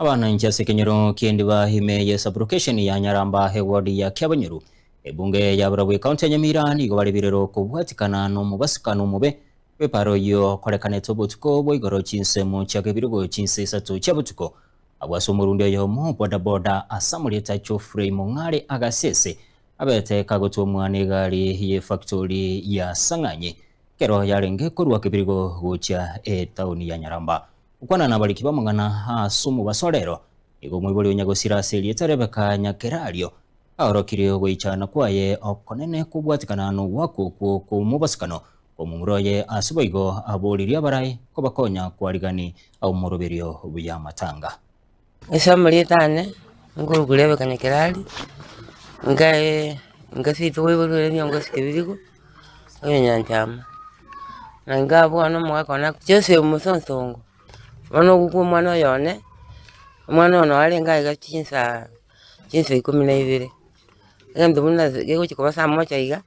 Abananchi ase ekenyoro ki'endiba ime ye sublocation ya Nyaramba eward ya Kiabanyoru, ebunge ya barabwo ecounty ya Nyamira nigo bare birero okobwatikana nomobasukano omobe bw'epara oyio okorekanete obotuko bwa igoro chinsemo chia kebirogo chinsa isato chia botuko abwo ase omorundi oyomo boda boda ase amarieta Geoffrey Mong'are Agasese abete kagotwomwa n'egari y'efactori ya Sang'anyi ekero yarenge korua Kibirigo gochia etaoni ya Nyaramba. Gokwana nabariki b'amang'ana as'omobasorero, nigo omoibori o Nyagosira ase erieta Rebecca Nyakerario aorokirie ogoichana kwaye okonene kobwatekana n'ogoakwa okwo kw'omobosokano kw'omomura oye ase boigo aboririe abarai kobakonya kwarigiani ab'omoroberio bw'amatanga. Ase amarieta ane, nkorokwa Rebeka Nyakerari, nkaye engaso yaito baibori bare neongosi Kebirigo, oyo nyanchama. Na nkabwana omogaka one ak- Joseph Mosonsongo, bono ogokwa omwana oyo one, omwana oyo noo arenge aiga chinsaa chinsa ikomi na ibere, egento buna ase gegochi koba saa mocha iga,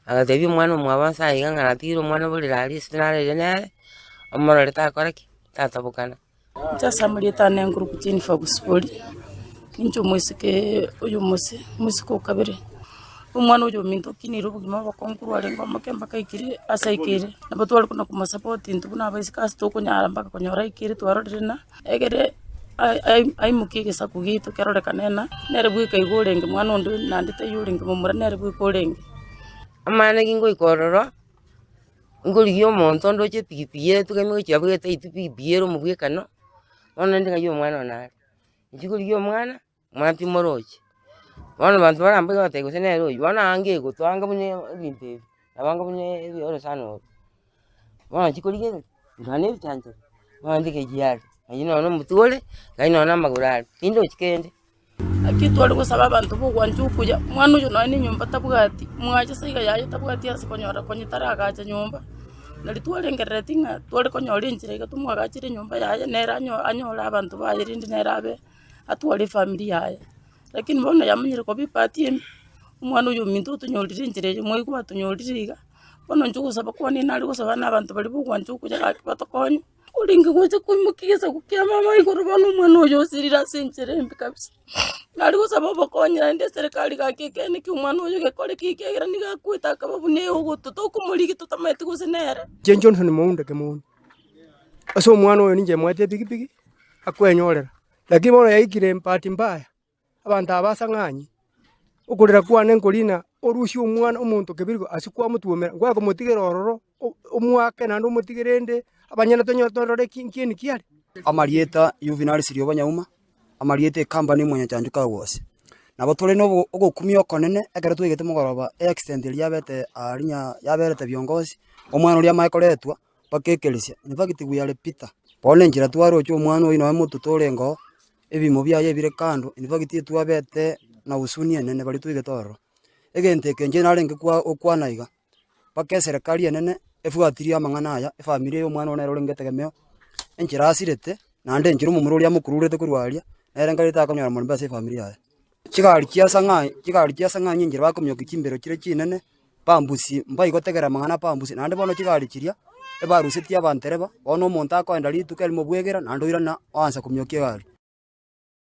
agatebia omwana omwabo nsa iga ng'a natigire omwana oborere aria ase naraiire nere, omorore takora ki? tatabokana. Sasa moretane enkurukutu eye nifa gosiboria, ninche omosike oyo omose, omosike o kabere, omwana oyo ominto okinire obogima obokongu arenge omoke mpaka aike ere ase aike ere, nabo tware kona komosapota intwe buna abaiseke ase tokonyara mpaka konyora aike ere twarorire ng'a egere ai- ai- aimoke egesaku giaito kerorekane ng'a nere bweka iga orenge, mwana onde naende taiyo orenge momura nere bweka orenge. Amang'ana ki ngoika ororo. Nkorigia omonto onde oche epikipiki ere togende gochi abwo gete aitwe epikipiki ere omobwekano, bono naende ng'ai omwana one are. Inche korigia omwana, omwana timore oche. Bono abanto barambe iga bagateba gose nere oyio, bono anga egotwa anga buna ebinto ebi, nabo anga buna orosana oro. Bono nachia korigia ng'a ndwara na ebichanchari, bono naende kechia are, oyio nonya na omotiga ore, ng'ai nonya na amagoro are, tindi ochi kende. Naki tware gosaba abanto b'ogwancha okuya, omwana oyo nonya nenyomba tabwati, mwacha ase iga yaye tabwati ase konyora konya taragacha nyomba, nari twarengerereti ng'a tware konyora enchera iga tomwagachere enyomba yaye nere anyo- anyore abanto baye rende nere abe atware efamiri yaye. Rakini bono yamenyire koba epati ime, omwana oyo ominto otonyorire enchera eye, mwaigwa atonyorire iga, bono inche ogosaba kwane nare gosaba na abanto baria b'ogwancha okuya gaki batokonye. Korende gocha koimokia gesaku kia mama igoro bono omwana oyo osirire ase enchera embe kabisa. Nare gosaba obokonyi naende eserekari gaki ekeene ki omwana oyo gekore ki ekiagera nigo akwete akaba buna eogoto tokomorigia totamanyeti gose nere. Inche Johnson Mounda Kemoni, ase omwana oyo ninche moete epikipiki akwenyorera, lakini bono yaikire embahati mbaya. Abanto aba as'ang'anyi, okorera kwane nkorina orusie Omwana‐o‐monto keberwa ase kwamotwomera, ngwaye komotigera ororo, omwake naende omotigere erinde abanyene tonyore torore ekieni kiare. Amarieta Yuvinari Siriobonyauma, amarieta ekambani omonyachancho kagose. Nabo tore nogokumia okonene ekero twaigete mogoroba eaccident eria yabete aa yaberete viongozi, omwana oria amae koretwa. bakekeresia, In fact we are Peter. Bono enchera twaroche omwana oyio nonya moto torenge oo, ebimo biaye bire kando, in fact etwabete na husuni enene baria toigete ororo. Egento eke inche narenge kwa gokwana iga, mpaka eserekari enene ebwatirie amang'ana aya, efamiri eye omwana oo nere orenge etegemeo, enchera asirete, naende enchera omomura oria amokururete korwa aria, nere nkareti akonyora morembe ase efamiri yaye. Chigari chi'esang'ani chigari chi'esang'ani enchera bakomiokia chimbero chiria chinene, bambusi mbayi gotegerera amang'ana a bambusi. Naende bono chigari chiria ebarusetie abantereba, bono omonto akoenda rituko erimo bwegera naende oirana oansa komiokia egari.